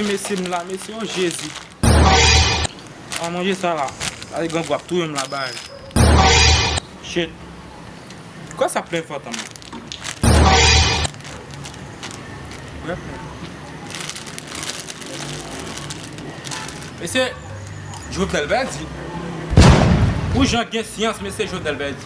Mesi m la mesi oh jezi. An manje sa la. Gade grangou ap touyem la baz. Shit. Pksa sa plen fò tanman. Mesye jovenel pèdi. Pou jan gen syans mesye jovenel pèdi.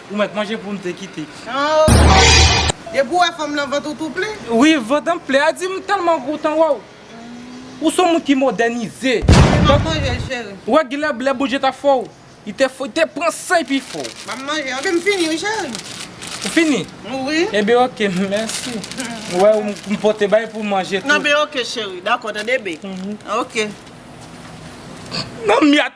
Ou met manje poum te kite. Ooh. Depi ou wè fanm lan vant ou tou ple. Wi vant an ple a dim telman gou tan wèw. Ou son moun ki modènize. Mwen pap manjel cheri. Ou wè genlè lè Bondje ta fè w li te fè w te pran san epi fè w. Map manje anpil m fini wi cheri. Ou fini? Wi. Enben ok mèsi. Ou wè m pote bay pou manje tou. Nan be ok cheri. Dakò tande be. Ok. Nan miat.